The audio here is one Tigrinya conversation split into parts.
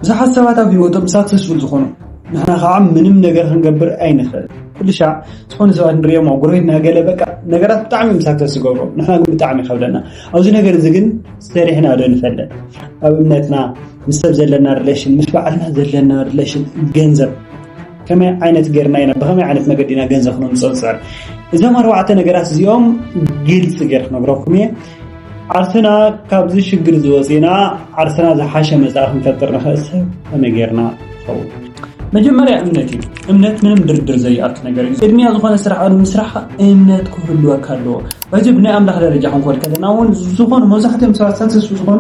ብዙሓት ሰባት ኣብ ህይወቶም ሳክሰስፉል ዝኾኑ ንሕና ከዓ ምንም ነገር ክንገብር ኣይንኽእል ኩሉ ሻዕ ዝኾነ ሰባት ንሪኦም ኣብ ጎረቤትና ገለ በቃ ነገራት ብጣዕሚ እዮም ሳክሰስ ዝገብሩ ንሕና ግን ብጣዕሚ ይከብደና ኣብዚ ነገር እዚ ግን ሰሪሕና ዶ ንፈለጥ ኣብ እምነትና ምስ ሰብ ዘለና ሪሌሽን ምስ በዓልና ዘለና ሪሌሽን ገንዘብ ከመይ ዓይነት ገርና ኢና ብከመይ ዓይነት መገዲ ኢና ገንዘብ ክነምፅኦ ንፅዕር እዞም ኣርባዕተ ነገራት እዚኦም ግልፂ ገይረ ክነግረኩም እየ ዓርስና ካብዚ ሽግር ዝወፂና ዓርስና ዝሓሸ መፃኢ ክንፈጥር ንኽእል ሰብ ከመይ ጌርና ይኸውን መጀመርያ እምነት እዩ እምነት ምንም ድርድር ዘይኣቱ ነገር እዩ ቅድሚያ ዝኾነ ስራሕ ኣብ ምስራሕ እምነት ክህልወካ ኣለዎ እዚ ብናይ ኣምላኽ ደረጃ ክንኮድ ከለና እውን ዝኾኑ መብዛሕትኦም ሰባት ሰክሰስ ዝኾኑ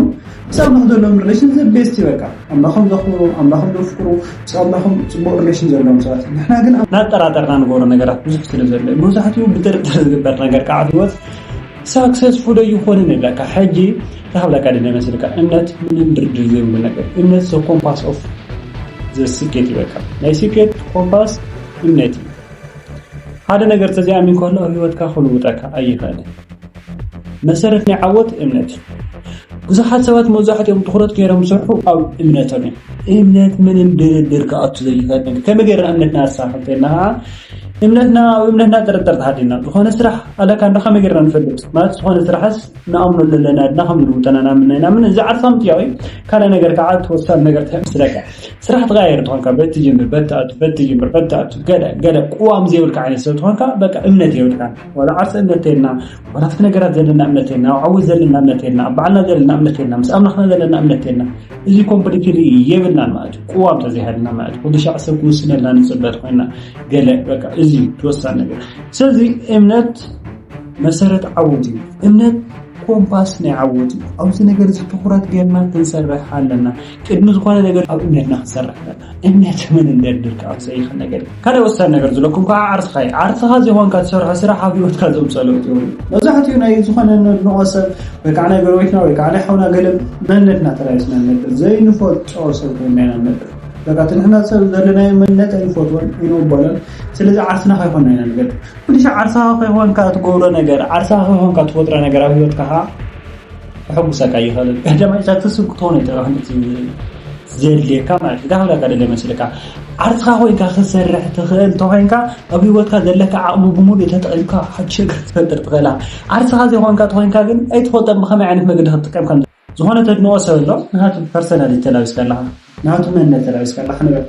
ምስ ኣምላኽ ዘለዎም ሪሌሽን ዘቤስት እዩ በቃ ኣምላኾም ዘኽብሩ ኣምላኾም ዘፍቅሩ ምስ ኣምላኾም ፅቡቅ ሪሌሽን ዘለዎም ሰባት ንሕና ግን ናጠራጠርና ንገብሮ ነገራት ብዙሕ ስለ ዘሎ መብዛሕትኡ ብጥርጥር ዝግበር ነገር ከዓ ህይወት ሳክሰስ ፉል ኣይኾነን ይብለካ ሕጂ ተሃብለካ ድለ መስልካ እምነት ምንም ድርድር ዘይብሉ ነገር እምነት ዘ ኮምፓስ ኦፍ ዘ ስኬት ይበልካ ናይ ስኬት ኮምፓስ እምነት እዩ ሓደ ነገር ተዘይኣሚን ከሎ ኣብ ህይወትካ ክልውጠካ ኣይኽእልን መሰረት ናይ ዓወት እምነት እዩ ብዙሓት ሰባት መብዛሕትኦም ትኩረት ገይሮም ዝሰርሑ ኣብ እምነቶም እዮም እምነት ምንም ድርድር ክኣቱ ዘይኽእል ነገር ከመይ ገይርና እምነትና ኣሳክተና እምነትና ኣብ እምነትና ጥርጥር ተሃሊና ዝኾነ ስራሕ ኣለካ እንዶ ከመይ ጌርና ንፈልጥ ማለት ዝኾነ ስራሕስ ንኣምኖ ኣለና ድና ከም ዝልውጠና ንኣምን ኣይናምን እዚ ዓርሳም ጥያቕ እዩ ካልእ ነገር ከዓ እቲ ወሳኒ ነገር እንታይ መስለካ ስራሕ ትቀያየር ትኾንካ በቲ ጅምር በቲ ኣቱ በቲ ጅምር በቲ ኣቱ ገለ ገለ ቅዋም ዘይብልካ ዓይነት ሰብ ትኾንካ በቃ እምነት የብልካን ዋላ ዓርሰ እምነት ተይልና ዋላ ኣብቲ ነገራት ዘለና እምነት የልና ኣብ ዓወት ዘለና እምነት የልና ኣብ በዓልና ዘለና እምነት የልና ምስ ኣምላኽና ዘለና እምነት የልና እዚ ኮምፕሊት የብልናን ማለት እዩ ቅዋም ተዘይሃልና ማለት እዩ ወደሻዕ ሰብ ክውስነልና ንፅበት ኮይና ገለ በቃ እዚ ተወሳኒ ነገር ስለዚ እምነት መሰረት ዓወት እዩ እምነት ኮምፓስ ናይ ዓወት እዩ ኣብዚ ነገር እዚ ትኩረት ጌርና ክንሰርሕ ኣለና ቅድሚ ዝኾነ ነገር ኣብ እምነትና ክንሰርሕ ኣለና። እምነት መን እንደድር ከዓ ዝፀይኸን ነገር እዩ። ካልእ ወሳኒ ነገር ዝለኩም ከዓ ዓርስኻ እዩ። ዓርስኻ ዘይኾንካ ትሰርሖ ስራሕ ኣብ ህይወትካ ዘምፅኦ ለውጢ የብሉን። መብዛሕትኡ ናይ ዝኾነ ነድንቖ ሰብ ወይ ከዓ ናይ ጎረቤትና ወይ ከዓ ናይ ሓውና ገለ መንነትና ተላቢስና ንነብር። ዘይንፈልጦ ሰብ ኮይና ኢና ንነብር። በቃ እቲ ንሕና ሰብ ዘለናዮ መንነት ኣይንፈትዎን ኣይንቕበሎን። ስለዚ ዓርስና ከይኮንና ኢና ንገድር። ኩልሻዕ ዓርስኻ ከይኮንካ ትገብሮ ነገር፣ ዓርስኻ ከይኮንካ ትፈጥሮ ነገር ኣብ ህይወትካ ከዓ ከሐጉሰካ ይኸእል ሕደ ማይታ ትስብ ክትኾነ ጥራኹን እቲ ዘድልየካ ማለት እዩ ጋብላካ ደለ መስልካ ዓርስኻ ኮይንካ ክትሰርሕ ትኽእል እንተኮይንካ ኣብ ሂወትካ ዘለካ ዓቕሚ ብምሉእ ተጠቒምካ ሓድሽ ነገር ክትፈጥር ትኽእላ ዓርስኻ ዘይኮንካ ተኮይንካ ግን ኣይትፈልጦን ብኸመይ ዓይነት መገዲ ክትጥቀም ከም ዝኾነ ተድንቆ ሰብ ኣሎ ንሃቱ ፐርሰናል ተላቢስካ ኣለኻ ናቱ መንነት ተላቢስ ከለኻ ንበል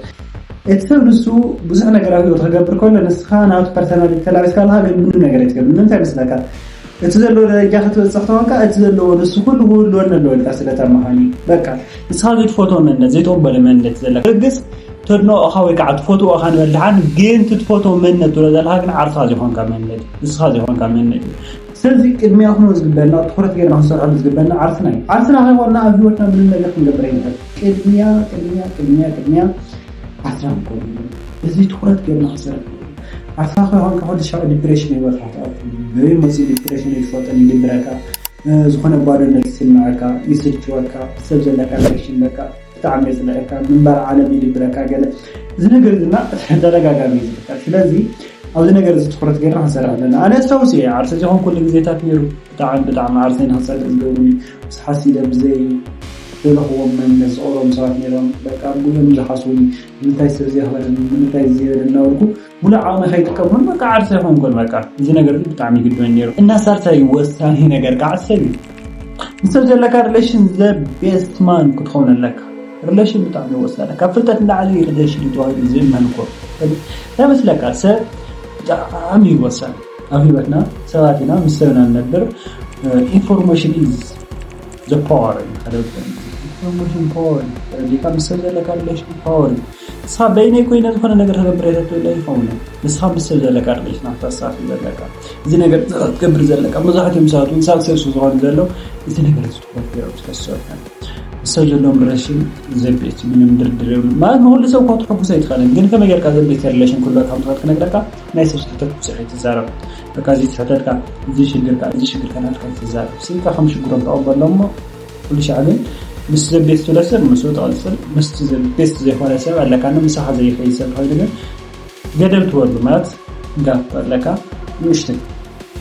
እቲ ሰብ ንሱ ብዙሕ ነገር ኣብ ህይወት ክገብር ከሎ ንስኻ ናቱ ፐርሰናሊቲ ተላቢስ ከለኻ ግን ምንም ነገር ኣይትገብር ንምንታይ መስለካ እቲ ዘለዎ ደረጃ ክትበፅሕ ተኾንካ እቲ ዘለዎ ንሱ ኩሉ ክህልወኒ ኣለዎ ኢልካ ስለተመሃኒ በቃ ንስኻ ዘይትፈትዎ መንነት ዘይተወበለ መንነት ዘለካ ርግፅ ተድንቆኻ ወይ ከዓ ትፈትዎ እኻ ንበል ድሓን ግን ትትፈትዎ መንነት ትብሎ ዘለካ ግን ዓርስኻ ዘይኮንካ መንነት ንስኻ ዘይኮንካ መንነት ስለዚ ቅድሚያ ክኖ ዝግበና ትኩረት ገይርና ክንሰርሐሉ ዝግበና ዓርስና እዩ ዓርስና ከይኮንና ኣብ ህይወትና ምንም ነገር ክንገብር ኣይንኽእል ቅድሚያ ቅድሚያ ቅድሚያ ቅድሚያ ኣስራ ንኮንሉ እዚ ትኩረት ገርና ክሰርሕ ኣስኻ ከይኮንካ ኩሉ ሻዕ ዲፕሬሽን ይበልካ በበይ መፅኡ ዲፕሬሽን ይፈጥን ይድብረካ ዝኾነ ባዶነት ይስምዐካ ይስልችወካ ሰብ ዘለካ ሪሌሽን በቃ ብጣዕሚ የፅልዐካ ምንባር ዓለም ይድብረካ ገለ እዚ ነገር ድማ ተደጋጋሚ እዩ ዝፍጠር ስለዚ ኣብዚ ነገር እዚ ትኩረት ገርና ክንሰርሕ ኣለና ኣነ ኣስታውስ እየ ዓርሰ ዝኾን ኩሉ ግዜታት ነይሩ ብጣዕም ብጣዕም ዓርሰይ ንክጸልእ ዝገብሩኒ ብዙሓት ሲኢለ ብዘይ ደለክዎም መንነት ዝቀብሮም ሰባት ነይሮም በቃ ብኡ እዮም ዝሓስቡኒ ንምታይ ሰብ እዚ የክበረኒ ንምታይ እዚ ዘይበለኒ እናበልኩ ሙሉእ ዓቅመይ ከይጥቀመሉ በቃ ዓርሰይ ኮንኩ በቃ እዚ ነገር እዚ ብጣዕሚ ይግድመኒ ነይሩ እና ሳልሳይ ወሳኒ ነገር ከዓ ሰብ እዩ ምስ ሰብ ዘለካ ሪሌሽን ዘ ቤስት ማን ክትከውን ኣለካ ሪሌሽን ብጣዕሚ ወሳኒ ካብ ፍልጠት ንላዕሊ ሪሌሽን እዩ ተባሂሉ ዝእመን እኮ እንታይ መስለካ ሰብ ብጣዕሚ እዩ ወሳኒ ኣብ ሂወትና ሰባት ኢና ምስ ሰብ ኢና ንነብር ኢንፎርሜሽን ኢዝ ዘ ፓወር ኢንፎርሜሽን ፓወር ኢዩ ተረዲእካ ምስ ሰብ ዘለካ ሪሌሽን ፓወር ኢዩ ንስኻ በይነይ ኮይነ ዝኾነ ነገር ክገብር እየ ተትብል ኣይኸውንን ንስኻ ምስ ሰብ ዘለካ ሪሌሽን ኢኻ ተስተኻኽል ዘለካ እዚ ነገር እዚ ክትገብር ዘለካ መብዛሕትኦም ሰባት ውን ሳክሰስ ዝኾኑ ዘለዉ እዚ ነገር እዚ ትኹረት ጌሮም ስለዝሰርሑ እዮም። ሰብ ዘለዎም ሪሌሽን ዘቤት እዩ ምንም ድርድር የብሉን ማለት ንኩሉ ሰብ እኮ ክትሕጉስ ኣይትኽእልን ግን ከመይ ጌርካ ዘቤት ሪሌሽን ክህልወካ ከም ትኽእል ክነግረካ ናይ ሰብ ስሕተት ብዙሕ ኣይትዛረብ በቃ እዚ ስሕተትካ እዚ ሽግርካ እዚ ሽግርካ ናትካ ኣይትዛረብ ስኢልካ ከም ሽግሮም ተቐበሎ እሞ ኩሉ ሻዕ ግን ምስ ዘቤት ትብለ ሰብ ምስኡ ትቕፅል ምስቲ ዘቤት ዘይኮነ ሰብ ኣለካኒ ምሳኻ ዘይኸይድ ሰብ ተኸይዱ ግን ገደል ትወርዱ ማለት ጋፕ ኣለካ ንእሽተይ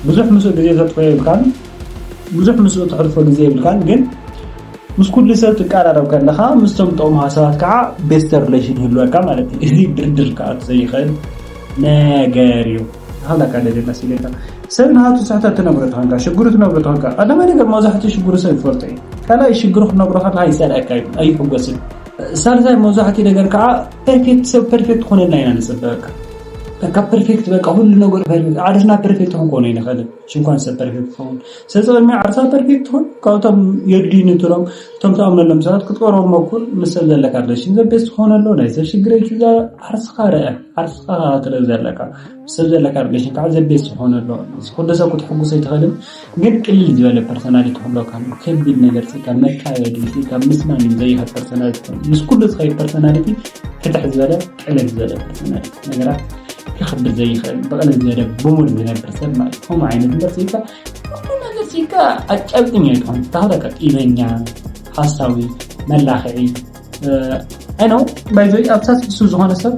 ብዙሕ ምስኡ ግዜ ተጥፎ የብልካን ብዙሕ ምስኡ ተሕልፎ ግዜ የብልካን ግን ምስ ኩሉ ሰብ ትቀራረብ ከለኻ ምስቶም ጠቕሙ ሃሳባት ከዓ ቤስተ ሪሌሽን ይህልወካ ማለት እዩ እዚ ድርድር ከዓ ዘይኽእል ነገር እዩ ሃላካ ደሌላ ሲሌካ ሰብ ንሃቱ ስሕተት ትነግሮ ተኾንካ ሽግሩ ትነግሮ ተኾንካ ቀዳማይ ነገር መብዛሕትኡ ሽግሩ ሰብ ይፈልጦ እዩ ካልኣይ ሽግሩ ክትነግሮ ከለካ ይፀልኣካ እዩ ኣይሕጎስን ሳልሳይ መብዛሕትኡ ነገር ከዓ ፐርፌክት ሰብ ፐርፌክት ክኾነልና ኢና ንፅበ በቃ በቃ ፐርፌክት በቃ ሁሉ ነገሩ ፐርፌክት ዓርስና ፐርፌክት ክንኮኑ ይንኽእል ሽንኳን ሰብ ፐርፌክት ትኸውን ስለዚ ቅድሚ ዓርሳ ፐርፌክት ትኹን ካብቶም የድልዩ ንትሎም እቶም ተኣምነሎም ሰባት ክትቀርቦም መኩር ምስ ሰብ ዘለካ ሪሌሽን ዘቤስ ትኾነሉ ናይ ሰብ ሽግረ ሒዛ ዓርስኻ ርአ ዓርስኻ ክትርኢ ዘለካ ሰብ ዘለካ ሪሌሽን ከዓ ዘቤት ዝኾነ ኣሎ እዚ ኩሉ ሰብ ክትሕጉሶ ኣይትኽእልን ግን ቅልል ዝበለ ፐርሰናሊቲ ክህልወካ ኣለዎ ከቢድ ነገር ፅን ኢልካ መካየዲ ፅን ኢልካ ምስናይ እዩ ዘይኸድ ፐርሰናሊቲ ክኾን ምስ ኩሉ ዝኸይድ ፐርሰናሊቲ ፍትሕ ዝበለ ቅልል ዝበለ ፐርሰናሊቲ ነገራት ክኽብድ ዘይኽእል ብቕልል ዝበለ ብሙር ዝነብር ሰብ ማለት እዩ ከምኡ ዓይነት እምበር ፅን ኢልካ ኩሉ ነገር ፅን ኢልካ ኣጫብጥኛ ኣይትኾን ተኽለካ ቂመኛ ሓሳዊ መላኽዒ ኣይ ነው ባይዘ ኣብታት እሱ ዝኾነ ሰብ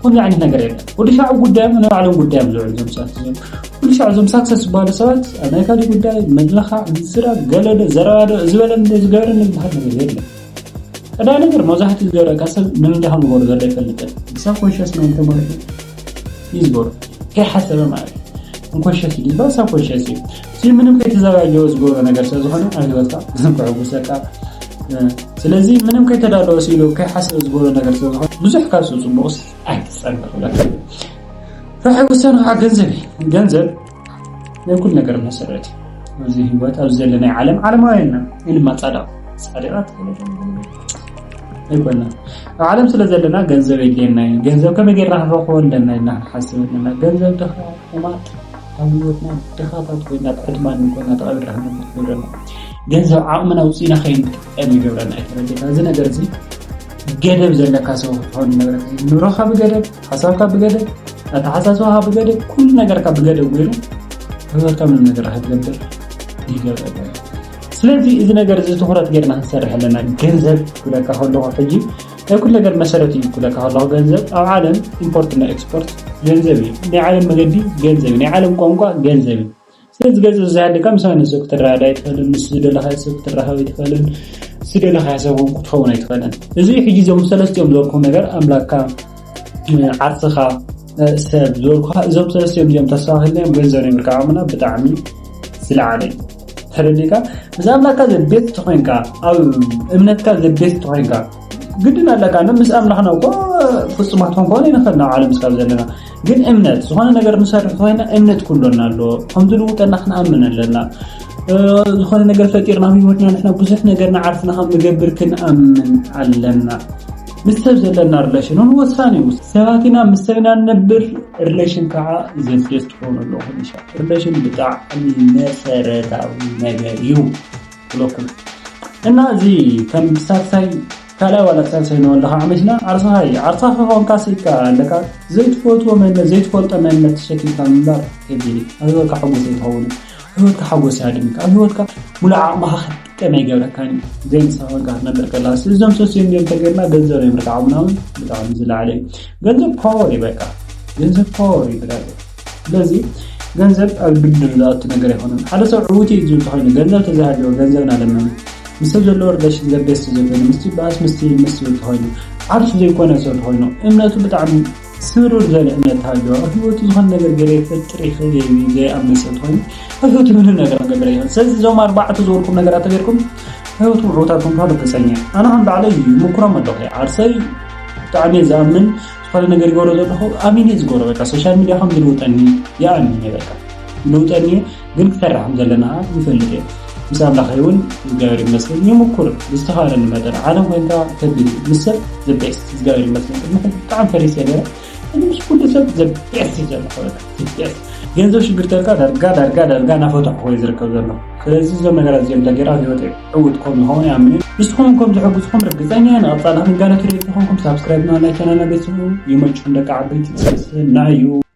ኩሉ ዓይነት ነገር የለ ወዲ ሻዕ ጉዳዮም ናይ ባዕሎም ጉዳዮም ዝውዕሉ ዞም ሰባት እዞም ኩሉ ሻዕ ዞም ሳክሰስ ዝበሃሉ ሰባት ኣብ ናይ ካልእ ጉዳይ መድለኻ ምስራ ገለዶ ዘረባዶ ዝበለ ዝገበረ ዝበሃል ነገር የለ ቀዳይ ነገር መብዛሕትኡ ዝገበረካ ሰብ ንምንታይ ከም ዝበሩ ዘሎ ይፈልጥን ሰብ ኮንሽስ ናይ ተመሪሑ እዩ ዝበሩ ከይሓሰበ ማለት እዩ እንኮሸስ እዩ ዝበሃል ሰብ ኮንሽስ እዩ እቲ ምንም ከይተዘጋጀወ ዝገብሮ ነገር ስለ ዝኾነ ኣብ ሂወትካ ምንም ከዕጉሰካ ስለዚ ምንም ከይተዳለወ ስኢሉ ከይሓሰበ ዝገብሮ ነገር ስለ ዝኾነ ብዙሕ ካብ ሰብ ፅቡቕስ ኣይትፀበ ክብለካ ራሕይ ውሳነ ከዓ ገንዘብ እዩ ገንዘብ ናይ ኩሉ ነገር መሰረት እዩ ኣብዚ ሂወት ኣብዚ ዘለናይ ዓለም ዓለማውያንና ኢ ድማ ፃድቕ ፃድቓት ኣይኮና ኣብ ዓለም ስለ ዘለና ገንዘብ የድልየና እዩ ገንዘብ ከመይ ጌርና ክንረክቦ ኣለና ኢልና ክንሓስብ ኣለና ገንዘብ ድኻ ሕማቅ ኣብ ሂወትና ድኻታት ኮይና ኣብ ዕድመ እንኮና ተቀቢርና ክንነብር ይገብረና ገንዘብ ዓቅምና ኣውጺእና ከይንጥቀም ይገብረና እዩ ተረዲእካ እዚ ነገር እዚ ገደብ ዘለካ ሰው ክትኸውን ይነብረካ ኑሮኻ ብገደብ ሓሳብካ ብገደብ ኣተሓሳስባኻ ብገደብ ኩሉ ነገርካ ብገደብ ገይሩ ህይወትካ ምንም ነገር ክትገብር ይገብረካ ስለዚ እዚ ነገር እዚ ትኩረት ገይርና ክንሰርሕ ኣለና ገንዘብ ክብለካ ከለኹ ሕጂ ናይ ኩሉ ነገር መሰረት እዩ ክብለካ ከለኹ ገንዘብ ኣብ ዓለም ኢምፖርት እና ኤክስፖርት ገንዘብ እዩ ናይ ዓለም መገዲ ገንዘብ እዩ ናይ ዓለም ቋንቋ ገንዘብ እዩ ስለዚ ገንዘብ ዝዛሃደካ ምስ ማንም ሰብ ክትረዳዳ ኣይትኽእልን ምስ ዝደለኻዮ ሰብ ክትራኸብ ኣይትኽእልን ዝደለኻዮ ሰብ እውን ክትኸውን ኣይትኽእልን እዚ ሕጂ እዞም ሰለስቲኦም ዝበልኩም ነገር ኣምላክካ ዓርስኻ ሰብ ዝበልኩኻ እዞም ሰለስቲኦም እዚኦም ተስፋ ክህልዮም ገንዘብ ነብርካ ዓቕምና ብጣዕሚ ዝለዓለ እዩ ተረዲእካ ምስ ኣምላካ ዘቤት ተኮይንካ ኣብ እምነትካ ዘቤት ተኮይንካ ግድን ኣለካ ምስ ኣምላኽና እኮ ፍፁማት ክንኮን ይንኽእል ናብ ዓለም ስካብ ዘለና ግን እምነት ዝኾነ ነገር ንሰርሕ ኮይና እምነት ኩሎና ኣሎ ከም ዝልውጠና ክንኣምን ኣለና ዝኾነ ነገር ፈጢርና ህይወትና ንሕና ብዙሕ ነገር ንዓርስና ከም ንገብር ክንኣምን ኣለና ምስ ሰብ ዘለና ሪሌሽን እውን ወሳኒ እዩ ሰባት ኢና ምስ ሰብ ኢና ንነብር ሪሌሽን ከዓ ዘቤት ትኾኑ ኣለኹም ይሻ ሪሌሽን ብጣዕሚ መሰረታዊ ነገር እዩ ብለኩም እና እዚ ከም ሳልሳይ ካልኣይ ዋላ ሳልሳይ ንወለካ ዓመትና ዓርሰኻ እዩ ዓርሰኻ ከኾንካ ስኢካ ኣለካ ዘይትፈትዎ መንነት ዘይትፈልጦ መንነት ተሸኪምካ ምንባር ከቢድ እዩ ኣብ ህይወትካ ሓጎስ ኣይትኸውን ህይወትካ ሓጎስ ያድምካ ኣብ ህይወትካ ሙሉእ ዓቕምኻ ክትጥቀም ኣይገብረካን እዩ ዘይምሳ ኮንካ ክትነብር ከላ እዞም ሰስዮም እዮም ተገርና ገንዘብ ናይ ምርካዕ ዓቕምና እውን ብጣዕሚ ዝለዓለ እዩ ገንዘብ ፓወር እዩ በቃ ገንዘብ ፓወር እዩ ብራዘር ስለዚ ገንዘብ ኣብ ድርድር ዝኣቱ ነገር ኣይኮነን። ሓደ ሰብ ዕዉት እዩ ዝብል ተኮይኑ ገንዘብ ተዘሃልዎ ገንዘብ ናለመነ ምስ ሰብ ዘለዎ ሪሌሽን ዘገስ ተዘኮይኑ ምስቲ ባእስ ምስቲ ምስ ዝብል ተኮይኑ ዓርሱ ዘይኮነ ሰብ ተኮይኑ እምነቱ ብጣዕሚ ስሩር ዘለ እምነት ተሃልዎ ኣብ ህይወቱ ዝኾነ ነገር ገይረ ይፈጥር ይኽእል እየ ኢሉ ዘይኣምነ ሰብ ተኮይኑ ኣብ ህይወቱ ምንም ነገር ክገብር ኣይኽእል። ስለዚ እዞም ኣርባዕተ ዝበልኩም ነገራት ተገይርኩም ህይወትኩም ዕውታት ክንትኾኑ ርግፀኛ እየ። ኣነ ከም ባዕለይ ይምኩሮም ኣለኹ ዓርሰይ ብጣዕሚ እየ ዝኣምን ዝኾነ ነገር ይገብሮ ዘለኹ ኣሚነ እዩ ዝገብሮ በቃ ሶሻል ሚድያ ከም ዝልውጠኒ ይኣምን እየ በቃ ዝልውጠኒ እዩ ግን ክሰራ ከም ዘለና ይፈልጥ እየ ምስ ኣምላኸ እውን እግዚኣብሔር ይመስገን ይምኩር ብዝተኻለኒ መጠን ዓለም ኮይንካ ከቢድ እዩ ምስ ሰብ ዘቤስት እግዚኣብሔር ይመስገን ቅድሚ ሕዚ ብጣዕሚ ፈሪሰ ነረ ምስ ኩሉ ሰብ ዘቤስት እዩ ዘለኹ በቃ ዘቤስት ገንዘብ ሽግር ተልካ ዳርጋ ዳርጋ ዳርጋ ናፈትሑ ወይ ዝርከብ ዘሎ ስለዚ እዞም ነገራት እዚኦም ተገይራ ህይወት እዩ ዕውት ኮም ንኸውን ይኣምን ንስኹም ኮም ዝሕግዝኹም ርግፀኛ ንቐፃሊ ክንጋለት ሪኢልቲ ኮንኩም ሳብስክራይብ ንዋና ቻናልና ቤተሰብ ይመችኹም ደቂ ዓበይቲ ሰስናዩ